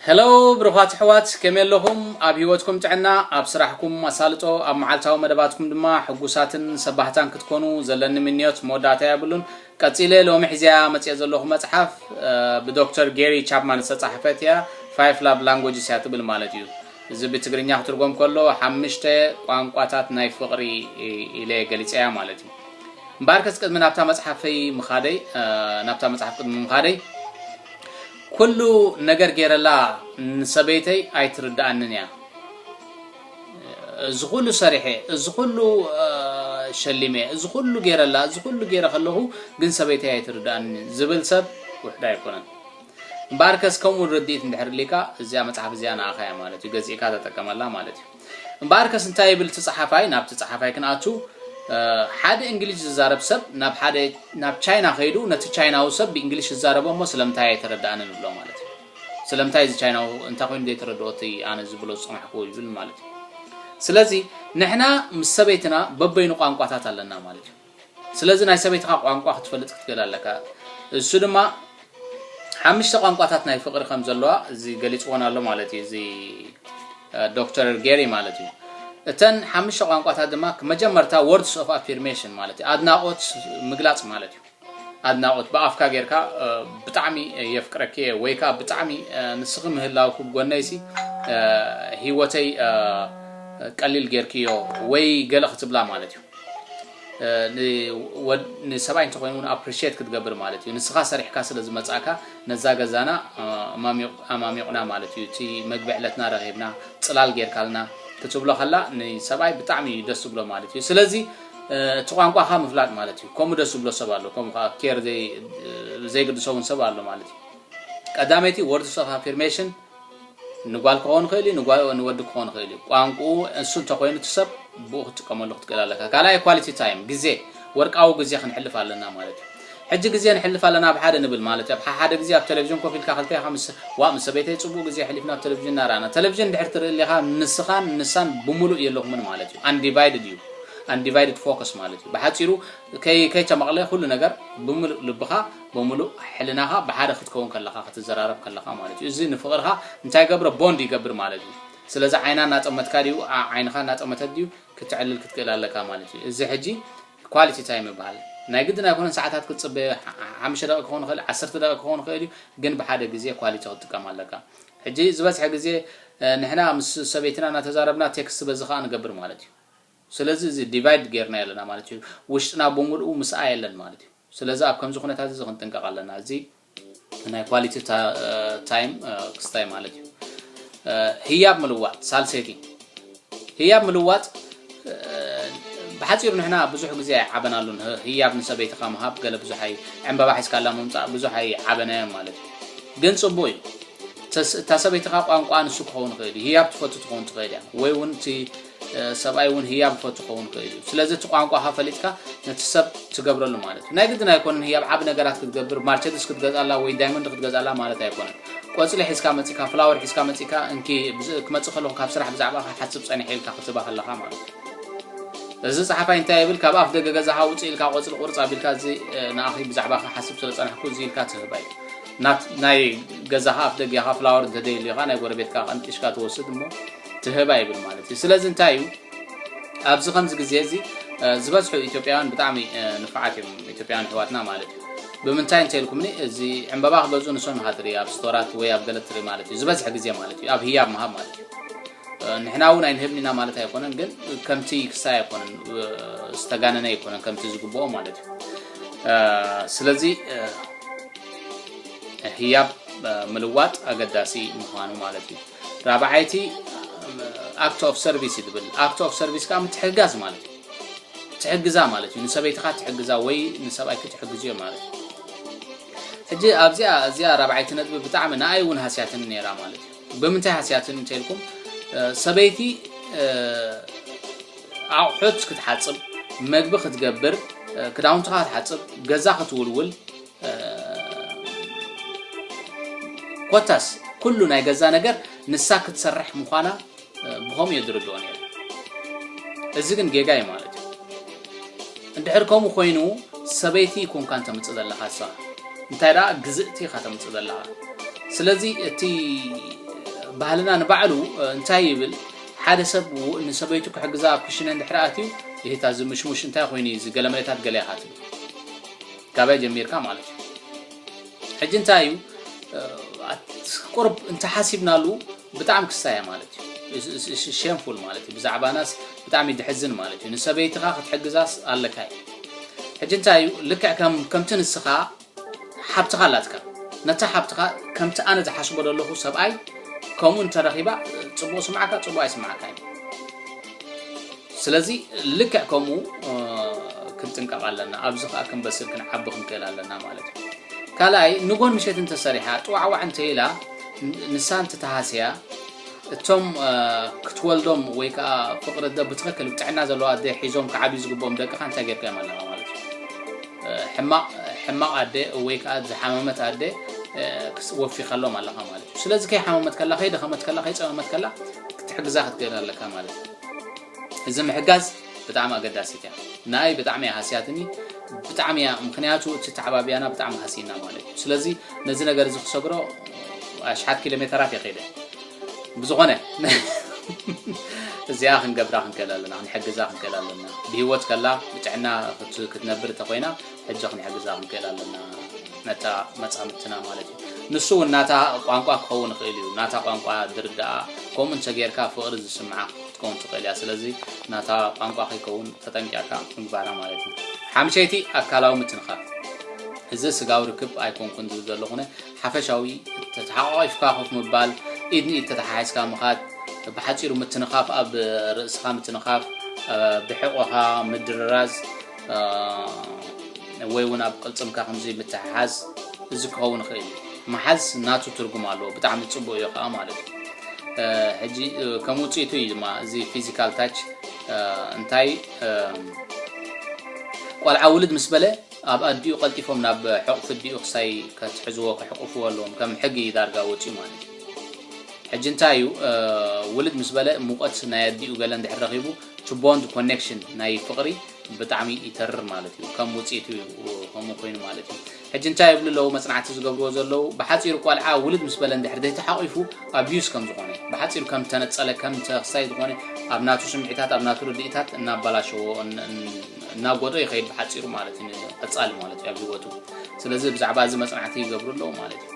Hello ብሩኻት ኣሕዋት ከመይ ኣለኹም ኣብ ሂወትኩም ጥዕና ኣብ ስራሕኩም ኣሳልጦ ኣብ መዓልታዊ መደባትኩም ድማ ሕጉሳትን ሰባህታን ክትኮኑ ዘለኒ ምንዮት መወዳእታ የብሉን ቀጺለ ሎሚ ሒዘያ መጽኤ ዘለኹ መጽሓፍ ብዶክተር ጌሪ ቻፕማን ዝተጻሕፈት እያ ፋይፍ ላቭ ላንጎጅስ እያ ትብል ማለት እዩ እዚ ብትግርኛ ክትርጎም ከሎ ሓምሽተ ቋንቋታት ናይ ፍቕሪ ኢለ ገሊጸያ ማለት እዩ እምበኣርከስ ቅድሚ ናብታ መጽሓፈይ ምኻደይ ናብታ መጽሓፍ ቅድሚ ምኻደይ ኩሉ ነገር ጌረላ ንሰበይተይ ኣይትርድኣንን እያ እዚ ኩሉ ሰሪሐ እዚ ኩሉ ሸሊመ እዚ ኩሉ ጌረላ እዚ ኩሉ ጌረ ከለኹ ግን ሰበይተይ ኣይትርድኣንን ዝብል ሰብ ውሕዳ ኣይኮነን እምበኣርከስ ከምኡ ርድኢት እንድሕር ሊካ እዚኣ መፅሓፍ እዚኣ ንኣኻ እያ ማለት እዩ ገዚእካ ተጠቀመላ ማለት እዩ እምበኣርከስ እንታይ ይብል እቲ ጸሓፋይ? ናብቲ ጸሓፋይ ክንኣቱ፣ ሓደ እንግሊዥ ዝዛረብ ሰብ ናብ ሓደ ናብ ቻይና ከይዱ ነቲ ቻይናዊ ሰብ ብእንግሊሽ ዝዛረቦ እሞ ስለምንታይ ኣይተረድኣንን ይብሎ ማለት እዩ። ስለምንታይ እዚ ቻይናዊ እንታይ ኮይኑ ዘይተረድኦ እቲ ኣነ ዝብሎ ዝጸናሕኩ ይብል ማለት እዩ። ስለዚ ንሕና ምስ ሰበይትና በበይኑ ቋንቋታት ኣለና ማለት እዩ። ስለዚ ናይ ሰበይትኻ ቋንቋ ክትፈልጥ ክትክእል ኣለካ። እሱ ድማ ሓምሽተ ቋንቋታት ናይ ፍቕሪ ከም ዘለዋ እዚ ገሊጽዎን ኣሎ ማለት እዩ እዚ ዶክተር ጌሪ ማለት እዩ። እተን ሓምሽተ ቋንቋታት ድማ መጀመርታ ወርድስ ኦፍ ኣፊርሜሽን ማለት እዩ ኣድናቖት ምግላጽ ማለት እዩ። ኣድናቖት ብኣፍካ ጌርካ ብጣዕሚ የፍቅረኪ እየ ወይ ከዓ ብጣዕሚ ንስኺ ምህላውኪ ብጎነይሲ ህይወተይ ቀሊል ጌርክዮ ወይ ገለ ክትብላ ማለት እዩ። ንሰብኣይ እንተኾይኑ ውን ኣፕሪሼት ክትገብር ማለት እዩ ንስኻ ሰሪሕካ ስለ ዝመጻእካ ነዛ ገዛና ኣማሚቑና ማለት እዩ እቲ መግቢ ዕለትና ረኺብና ጽላል ጌርካልና ክትብሎ ከላ ንሰብኣይ ብጣዕሚ እዩ ደስ ዝብሎ ማለት እዩ ስለዚ እቲ ቋንቋኻ ምፍላጥ ማለት እዩ ከምኡ ደስ ዝብሎ ሰብ ኣሎ ከምኡ ከዓ ኬር ዘይግድሶ ውን ሰብ ኣሎ ማለት እዩ ቀዳመይቲ ወርድስ ኦፍ ኣፊርሜሽን ንጓል ክኸውን ይኽእል እዩ፣ ንወዲ ክኸውን ይኽእል እዩ። ቋንቁኡ እሱ እንተኾይኑ እቲ ሰብ ብኡ ክትጥቀመሉ ክትክእል ኣለካ። ካልኣይ ኳሊቲ ታይም ግዜ ወርቃዊ ግዜ ክንሕልፍ ኣለና ማለት እዩ። ሕጂ ግዜ ንሕልፍ ኣለና ኣብ ሓደ ንብል ማለት እዩ። ኣብ ሓሓደ ግዜ ኣብ ተለቪዥን ኮፍ ኢልካ ክልተ ኢኻ ምስ ዋእ ምስ ሰበይተይ ጽቡቕ ግዜ ኣሕሊፍና ኣብ ተለቪዥን እናረኣና። ተለቪዥን እንድሕር ትርኢ ኣሊኻ ንስኻን ንሳን ብምሉእ የለኹምን ማለት እዩ። ኣንዲቫይድድ እዩ Undivided Focus ማለት እዩ። ብሓጺሩ ከይ ከይተመቕለ ኩሉ ነገር ብምሉእ ልብኻ ብምሉእ ሕልናኻ ብሓደ ክትከውን ከለኻ ክትዘራረብ ከለኻ ማለት እዩ እዚ ንፍቕርኻ እንታይ ገብሮ ቦንድ ይገብር ማለት እዩ ስለዚ ዓይና እናጠመትካ ድዩ ዓይንኻ እናጠመተት ድዩ ክትዕልል ክትክእል ኣለካ ማለት እዩ እዚ ሕጂ ኳሊቲ ታይም ይበሃል ናይ ግድን ኣይኮነን ሰዓታት ክትፅበ ሓሙሽተ ደቂ ክኸውን ይኽእል ዓሰርተ ደቂ ክኸውን ይኽእል እዩ ግን ብሓደ ግዜ ኳሊቲ ክትጥቀም ኣለካ ሕጂ ዝበዝሐ ግዜ ንሕና ምስ ሰበይትና እናተዛረብና ቴክስት በዚ ከዓ ንገብር ማለት እዩ ስለዚ እዚ ዲቫይድ ጌርናዮ ኣለና ማለት እዩ። ውሽጥና ብምልኡ ምስኣ የለን ማለት እዩ። ስለዚ ኣብ ከምዚ ኩነታት እዚ ክንጥንቀቕ ኣለና። እዚ ናይ ኳሊቲ ታይም ክስታይ ማለት እዩ። ህያብ ምልዋጥ ሳልሰይቲ ህያብ ምልዋጥ ብሓፂሩ ንሕና ብዙሕ ግዜ ኣይዓበናሉን። ህያብ ንሰበይትኻ ምሃብ ገለ ብዙሕ ኣይ ዕምበባ ሒዝካላ ምምፃእ ብዙሕ ኣይዓበናዮም ማለት እዩ። ግን ፅቡቅ እዩ። እታ ሰበይትኻ ቋንቋ ንሱ ክኸውን ይኽእል እዩ። ህያብ ትፈቱ ትኸውን ትኽእል እያ ወይ እውን እቲ ሰብኣይ እውን ህያብ እኮ ትኸውን እኮ እዩ ስለዚ እቲ ቋንቋኻ ፈሊጥካ ነቲ ሰብ ትገብረሉ ማለት እዩ ናይ ግድን ኣይኮነን ህያብ ዓብ ነገራት ክትገብር ማርቸድስ ክትገዝኣላ ወይ ዳይመንድ ክትገዝኣላ ማለት ኣይኮነን ቆፅሊ ሒዝካ መፂካ ፍላወር ሒዝካ መፂካ እንኪ ክመፅእ ከለኹ ካብ ስራሕ ብዛዕባ ክሓስብ ፀኒሐ ኢልካ ክትባ ከለኻ ማለት እዩ እዚ ፀሓፋይ እንታይ ይብል ካብ ኣፍ ደገ ገዛኻ ውፅእ ኢልካ ቆፅሊ ቁርፅ ኣቢልካ እዚ ንኣኺ ብዛዕባ ክሓስብ ስለ ፀናሕኩ እዚ ኢልካ ትህባ እዩ ናይ ገዛኻ ኣፍ ደጊኻ ፍላወር እንተደይልዩኻ ናይ ጎረቤትካ ቀንጢሽካ ትወስድ እሞ ትህብ ኣይብል ማለት እዩ ስለዚ እንታይ እዩ ኣብዚ ከምዚ ግዜ እዚ ዝበዝሑ ኢትዮጵያውያን ብጣዕሚ ንፋዓት እዮም ኢትዮጵያውያን ኣሕዋትና ማለት እዩ ብምንታይ እንተ ኢልኩምኒ እዚ ዕምበባ ክገዝኡ ንሶም ኢኻ ትርኢ ኣብ ስቶራት ወይ ኣብ ገለ ትርኢ ማለት እዩ ዝበዝሐ ግዜ ማለት እዩ ኣብ ህያብ ምሃብ ማለት እዩ ንሕና እውን ኣይንህብኒና ማለት ኣይኮነን ግን ከምቲ ክሳይ ኣይኮነን ዝተጋነነ ኣይኮነን ከምቲ ዝግብኦ ማለት እዩ ስለዚ ህያብ ምልዋጥ ኣገዳሲ ምዃኑ ማለት እዩ ራብዓይቲ ኣክት ኦፍ ሰርቪስ እዩ ትብል ኣክት ኦፍ ሰርቪስ ከዓ ምትሕግጋዝ ማለት እዩ ትሕግዛ ማለት እዩ ንሰበይትካ ትሕግዛ ወይ ንሰብኣይኪ ትሕግዝዮ ማለት እዩ ሕጂ ኣብዚኣ እዚኣ ራብዓይቲ ነጥቢ ብጣዕሚ ንኣይ እውን ሃስያትን ነይራ ማለት እዩ ብምንታይ ሃስያትን እንተልኩም ሰበይቲ ኣቑሑት ክትሓፅብ መግቢ ክትገብር ክዳውንትኻ ክትሓፅብ ገዛ ክትውልውል ኮታስ ኩሉ ናይ ገዛ ነገር ንሳ ክትሰርሕ ምዃና ብኸምኡ የድርድኦ ነይሩ እዚ ግን ጌጋ እዩ ማለት እዩ እንድሕር ከምኡ ኮይኑ ሰበይቲ ኮንካ እንተምፅእ ዘለካ እሷ እንታይ ደኣ ግዝእቲ ኢኻ ተምፅእ ዘለካ ስለዚ እቲ ባህልና ንባዕሉ እንታይ ይብል ሓደ ሰብ ንሰበይቱ ክሕግዛ ኣብ ክሽነ እንድሕር ኣትዩ ይህታ እዚ ምሽሙሽ እንታይ ኮይኑ እዩ እዚ ገለ መሬታት ገለ ኢኻ ትብል ካበይ ጀሚርካ ማለት እዩ ሕጂ እንታይ እዩ ቁርብ እንተሓሲብናሉ ብጣዕሚ ክሳየ ማለት እዩ ሸምፉል ማለት እዩ ብዛዕባናስ ብጣዕሚ ድሕዝን ማለት እዩ ንሰበይትኻ ክትሕግዛስ ኣለካ እዩ ሕጂ እንታይ እዩ ልክዕ ከምቲ ንስኻ ሓብትኻ ኣላትካ ነታ ሓብትኻ ከምቲ ኣነ ዝሓስቦ ዘለኹ ሰብኣይ ከምኡ እንተረኺባ ፅቡቅ ስምዓካ ፅቡቅ ኣይስምዓካ እዩ ስለዚ ልክዕ ከምኡ ክንጥንቀቕ ኣለና። ኣብዚ ከኣ ክንበስል ክንዓቢ ክንክእል ኣለና ማለት እዩ። ካልኣይ ንጎን ምሸት እንተሰሪሓ ጥዋዕዋዕ እንተኢላ ንሳ እንትተሃስያ እቶም ክትወልዶም ወይ ከዓ ፍቅሪ ደ ብትክክል ጥዕና ዘለዋ ኣደ ሒዞም ክዓብዩ ዝግብኦም ደቅኻ እንታይ ጌርካ እዮም ኣለኻ ማለት ሕማቕ ኣደ ወይ ከዓ ዝሓመመት ኣደ ወፊኻሎም ኣለኻ ማለት እዩ ስለዚ ከይሓመመት ከላ ከይደኸመት ከላ ከይፀመመት ከላ ክትሕግዛ ክትገል ኣለካ ማለት እዩ እዚ ምሕጋዝ ብጣዕሚ ኣገዳሲት እያ ንኣይ ብጣዕሚ እያ ሃስያትኒ ብጣዕሚ እያ ምክንያቱ እቲ ተዓባብያና ብጣዕሚ ሃሲና ማለት እዩ ስለዚ ነዚ ነገር እዚ ክሰግሮ ኣሽሓት ኪሎ ሜተራት የኸደ ብዝኾነ እዚኣ ክንገብራ ክንክእል ኣለና ክንሕግዛ ክንክእል ኣለና ብሂወት ከላ ብጥዕና ክትነብር እንተኮይና ሕጂ ክንሕግዛ ክንክእል ኣለና ነታ መጻምድትና ማለት እዩ ንሱ እውን ናታ ቋንቋ ክኸውን ይኽእል እዩ ናታ ቋንቋ ድርዳኣ ከምኡ እንተጌርካ ፍቕሪ ዝስምዓ ክትከውን ትኽእል እያ ስለዚ ናታ ቋንቋ ከይከውን ተጠንቂቕካ ምግባራ ማለት እዩ ሓምሸይቲ ኣካላዊ ምትንኻፍ እዚ ስጋዊ ርክብ ኣይኮንኩን ዝብል ዘለኹነ ሓፈሻዊ ተተሓቋቂፍካ ኮፍ ምባል ኢድ ንኢድ ተተሓሒዝካ ምኻድ ብሓፂሩ ምትንኻፍ ኣብ ርእስኻ ምትንኻፍ ብሕቆኻ ምድርራዝ ወይ እውን ኣብ ቅልፅምካ ከምዚ ምትሕሓዝ እዚ ክኸውን ይኽእል እዩ መሓዝ ናቱ ትርጉም ኣለዎ ብጣዕሚ ፅቡቅ እዩ ከዓ ማለት እዩ ሕጂ ከም ውፅኢቱ እዩ ድማ እዚ ፊዚካል ታች እንታይ ቆልዓ ውልድ ምስ በለ ኣብ ኣዲኡ ቀልጢፎም ናብ ሕቑፊ ዲኡ ክሳይ ከትሕዝዎ ክሕቁፍዎ ኣለዎም ከም ሕጊ እዩ ዳርጋ ወፂኡ ማለት እዩ ሕጂ እንታይ እዩ ውልድ ምስ በለ ሙቐት ናይ ኣዲኡ ገለ እንድሕር ረኺቡ ቱቦንት ኮኔክሽን ናይ ፍቅሪ ብጣዕሚ ይተርር ማለት እዩ ከም ውጽኢቱ ከምኡ ኮይኑ ማለት እዩ ሕጂ እንታይ ይብሉ ኣለዉ መጽናዕቲ ዝገብርዎ ዘለዉ ብሓጺሩ ቆልዓ ውልድ ምስ በለ እንድሕር ዘይተሓቂፉ ኣቢዩስ ከም ዝኾነ ብሓጺሩ ከም ተነጸለ ከም ተክሳይ ዝኾነ ኣብ ናቱ ስምዒታት ኣብ ናቱ ርድኢታት እናባላሸዎ እናጎዶ ይኸይድ ብሓጺሩ ማለት እዩ ቀጻሊ ማለት እዩ ኣብ ህይወቱ ስለዚ ብዛዕባ እዚ መጽናዕቲ ይገብሩ ኣለዉ ማለት እዩ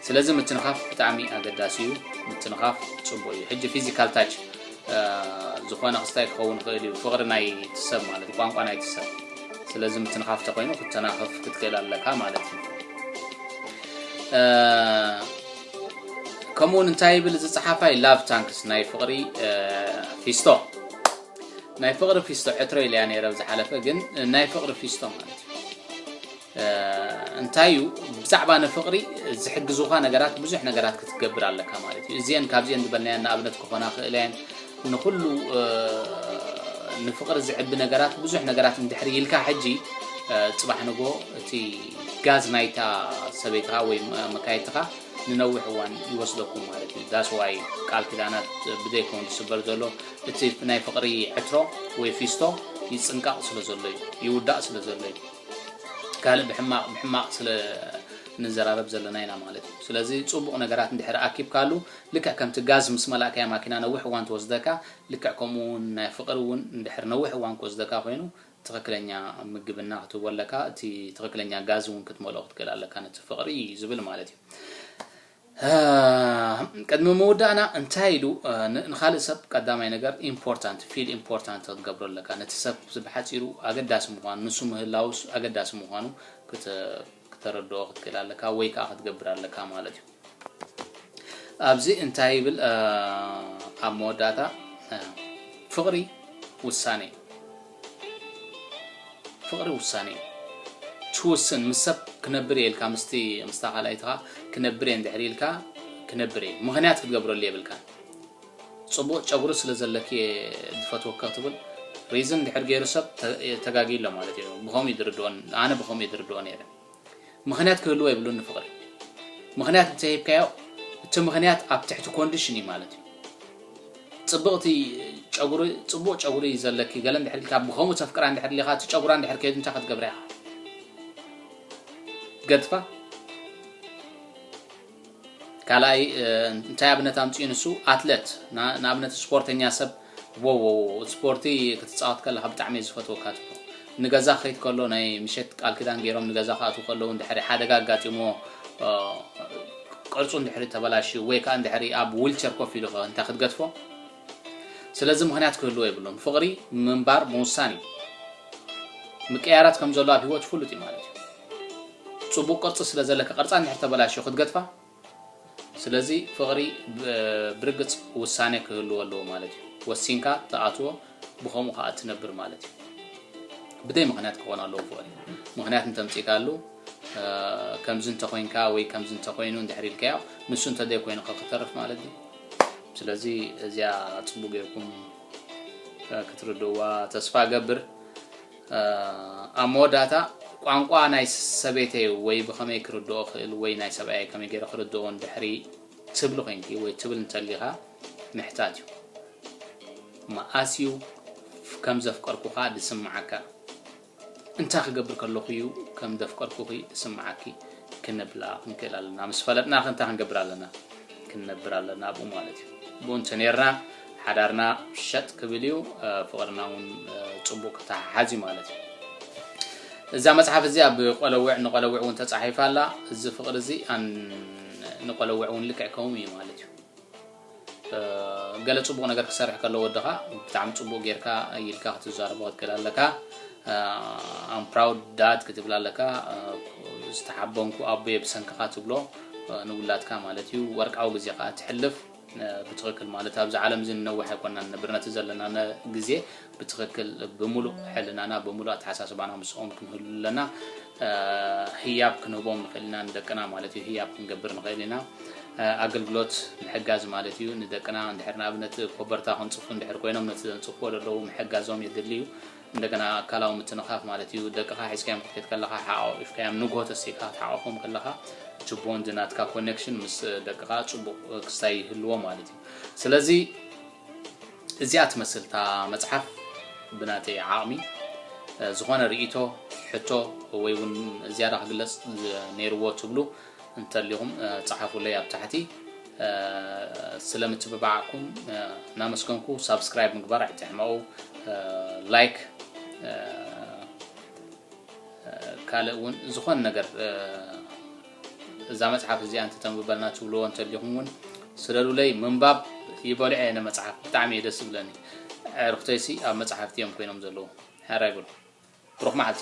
ስለዚ ምትንኻፍ ብጣዕሚ ኣገዳሲ እዩ ምትንኻፍ ጽቡቅ እዩ ሕጂ ፊዚካል ታች ዝኾነ ክስታይ ክኸውን ይኽእል እዩ ፍቕሪ ናይቲ ሰብ ማለት እዩ ቋንቋ ናይቲ ሰብ ስለዚ ምትንኻፍ ተኮይኑ ክትተናኸፍ ክትክእል ኣለካ ማለት እዩ ከምኡ ውን እንታይ ይብል እዚ ፀሓፋይ ላቭ ታንክስ ናይ ፍቕሪ ፊስቶ ናይ ፍቕሪ ፊስቶ ዕትሮ ኢለያ ነይረ ዝሓለፈ ግን ናይ ፍቕሪ ፊስቶ ማለት እዩ እንታይ እዩ ብዛዕባ ንፍቅሪ ዝሕግዙካ ነገራት ብዙሕ ነገራት ክትገብር ኣለካ ማለት እዩ እዚን ካብዚን ዝበልናየን ንኣብነት ክኾና ክእለ እየን ንኩሉ ንፍቅሪ ዝዕቢ ነገራት ብዙሕ ነገራት እንድሕሪ ኢልካ ሕጂ ፅባሕ ንጎ እቲ ጋዝ ናይታ ሰበይትኻ ወይ መካየትኻ ንነዊሕ እዋን ይወስደኩም ማለት እዩ ዳስ ዋይ ቃል ኪዳናት ብዘይከውን ዝስበር ዘሎ እቲ ናይ ፍቅሪ ዕትሮ ወይ ፊስቶ ይፅንቀቕ ስለ ዘሎ እዩ ይውዳእ ስለ ዘሎ እዩ ካልእ ብሕማቅ ብሕማቅ ስለ ንዘራረብ ዘለና ኢና ማለት እዩ ስለዚ ጽቡቅ ነገራት እንድሕር ኣኪብካሉ ልክዕ ከምቲ ጋዝ ምስ መላእካያ ማኪና ነዊሕ እዋን ትወስደካ ልክዕ ከምኡ ውን ናይ ፍቅሪ ውን እንድሕር ነዊሕ እዋን ክወስደካ ኮይኑ ትክክለኛ ምግብና ክትህቦ ኣለካ እቲ ትክክለኛ ጋዝ ውን ክትመልኦ ክትክእል ኣለካ ነቲ ፍቅሪ ዝብል ማለት እዩ እህም ቅድሚ ምውዳእና እንታይ ኢሉ ንኻልእ ሰብ ቀዳማይ ነገር ኢምፖርታንት ፊል ኢምፖርታንት ክትገብሮ ኣለካ ነቲ ሰብ ዝብሓጺሩ ኣገዳሲ ምዃኑ ንሱ ምህላው ኣገዳሲ ምዃኑ ክተረድኦ ክትክእል ኣለካ ወይ ከኣ ክትገብር ኣለካ ማለት እዩ ኣብዚ እንታይ ይብል ኣብ መወዳእታ ፍቕሪ ውሳኔ እዩ ፍቅሪ ውሳኔ እዩ ችውስን ምስ ሰብ ክነብር እየ ኢልካ ምስቲ ምስታ ካልኣይትካ ክነብር እየ እንድሕር ኢልካ ክነብር እየ ምክንያት ክትገብረሉ የብልካን ጽቡቅ ጨጉሪ ስለ ዘለኪ እየ ዝፈትወኪ ክትብል ሪዝን እንድሕር ገይሩ ሰብ ተጋጊሎ ማለት እዩ ብከምኡ እዩ ዝርድኦ ኣነ ብከምኡ እየ ዝርድኦ ነይረ ምኽንያት ክህልዎ የብሉን ንፍቕሪ ምኽንያት እንተሂብካዮ እቲ ምኽንያት ኣብ ትሕቲ ኮንድሽን እዩ ማለት እዩ ጽብቕቲ ጨጉሪ ጽቡቕ ጨጉሪ እዩ ዘለኪ ገለ እንድሕር ኢልካ ብኸምኡ ተፍቅራ እንድሕር ሊኻ እቲ ጨጉራ እንድሕር ከይዱ እንታይ ክትገብራ ኢኻ ገድፋ ካልኣይ እንታይ ኣብነት ኣምጺኡ ንሱ ኣትለት ንኣብነት ስፖርተኛ ሰብ ዎዎዎ ስፖርቲ ክትጻወት ከለካ ብጣዕሚ እየ ዝፈትወካ ትብሎ ንገዛ ክኸይድ ከሎ ናይ ምሸት ቃል ኪዳን ገይሮም ንገዛ ክኣትው ከለዉ እንድሕሪ ሓደጋ ኣጋጢምዎ ቅርጹ እንድሕሪ ተበላሽዩ ወይ ከዓ እንድሕሪ ኣብ ዊልቸር ኮፍ ኢሉ ከ እንታይ ክትገድፎ ስለዚ ምኽንያት ክህልዎ የብሉን ፍቕሪ ምንባር ምውሳን እዩ ምቅያራት ከም ዘሎ ኣብ ሂወት ይፍሉጥ እዩ ማለት እዩ ጽቡቅ ቅርጺ ስለ ዘለካ ቅርጻ እንድሕር ተበላሽዮ ክትገድፋ ስለዚ ፍቕሪ ብርግጽ ውሳኔ ክህልዎ ኣለዎ ማለት እዩ ወሲንካ ትኣትዎ ብከምኡ ከዓ እትነብር ማለት እዩ ብደይ ምክንያት ክኾን ኣለዎ ፍቕሪ ምክንያት እንተምፂእካሉ ከምዚ እንተኮይንካ ወይ ከምዚ እንተኮይኑ እንድሕር ኢልካዮ ንሱ እንተዘይኮይኑ ከክተርፍ ማለት እዩ ስለዚ እዚኣ ጽቡቅ ጌርኩም ክትርድእዋ ተስፋ እገብር ኣብ መወዳእታ ቋንቋ ናይ ሰበይተይ ወይ ብኸመይ ክርድኦ ክእል ወይ ናይ ሰብኣየ ከመይ ገይረ ክርድኦ እንድሕሪ ትብሊ ኮንኪ ወይ ትብል እንተሊኻ ምሕታት እዩ መኣስ እዩ ከም ዘፍቀርኩኻ ድስምዓካ እንታይ ክገብር ከለኹ እዩ ከም ዘፍቀርኩኺ ዝስምዓኪ? ክንብላ ክንክእል ኣለና። ምስ ፈለጥናኸ እንታይ ክንገብር ኣለና? ክንነብር ኣለና ኣብኡ ማለት እዩ። ብኡ እንተነይርና ሓዳርና ሸጥ ክብል እዩ፣ ፍቕርና እውን ፅቡቕ ክተሓሓዝ እዩ ማለት እዩ። እዛ መፅሓፍ እዚኣ ብቆለውዕ ንቆለውዕ እውን ተፃሒፋ ኣላ። እዚ ፍቕሪ እዚ ንቆለውዕ እውን ልክዕ ከምኡ እዩ ማለት እዩ። ገለ ጽቡቅ ነገር ክሰርሕ ከሎ ወድኻ ብጣዕሚ ጽቡቅ ጌርካ ኢልካ ክትዛረቦ ክትክእል ኣለካ ኣም ፕራውድ ዳድ ክትብል ኣለካ ዝተሓበንኩ ኣቦየ ብሰንክኻ ትብሎ ንውላድካ ማለት እዩ ወርቃዊ ግዜ ከዓ ትሕልፍ ብትክክል ማለት ኣብዚ ዓለም እዚ ንነውሕ ኣይኮና ንነብር ነቲ ዘለና ግዜ ብትኽክል ብምሉእ ሕልናና ብምሉእ ኣተሓሳስባና ምስኦም ክንህሉ ኣለና። ህያብ ክንህቦም ንኽእል ኢና ንደቅና ማለት እዩ። ህያብ ክንገብር ንኽእል ኢና። ኣገልግሎት ምሕጋዝ ማለት እዩ። ንደቅና እንድሕር ንኣብነት ኮበርታ ክንጽፉ እንድሕር ኮይኖም ነቲ ዘንጽፍዎ ዘለዉ ምሕጋዞም የድሊ እዩ። እንደገና ኣካላዊ ምትንኻፍ ማለት እዩ። ደቅኻ ሒዝካዮም ክትከይድ ከለኻ ሓቛቒፍካዮም ንግሆ ተሲእካ ክትሓቆፎም ከለኻ እቲ ቦንድ ናትካ ኮኔክሽን ምስ ደቅኻ ጽቡቕ ክስታይ ይህልዎ ማለት እዩ። ስለዚ እዚኣ ትመስል እታ መጽሓፍ ብናተይ ዓቕሚ ዝኾነ ርእይቶ ሕቶ ወይ እውን ዝያዳ ክግለጽ ነይርዎ ትብሉ እንተሊኹም ጸሓፉለይ ኣብ ታሕቲ ስለምትብባዕኩም እናመስገንኩ ሳብስክራይብ ምግባር ኣይትሕመቑ ላይክ ካልእ እውን ዝኾነ ነገር እዛ መጽሓፍ እዚኣ እንተ ተንብበልና ትብልዎ እንተሊኹም ውን ስለሉለይ ምንባብ ይበልዖ እየ ንመጽሓፍ ብጣዕሚ እየ ደስ ዝብለኒ ኣዕርኽተይሲ ኣብ መጽሓፍቲ እዮም ኮይኖም ዘለዉ ሓራይ ብሩኽ መዓልቲ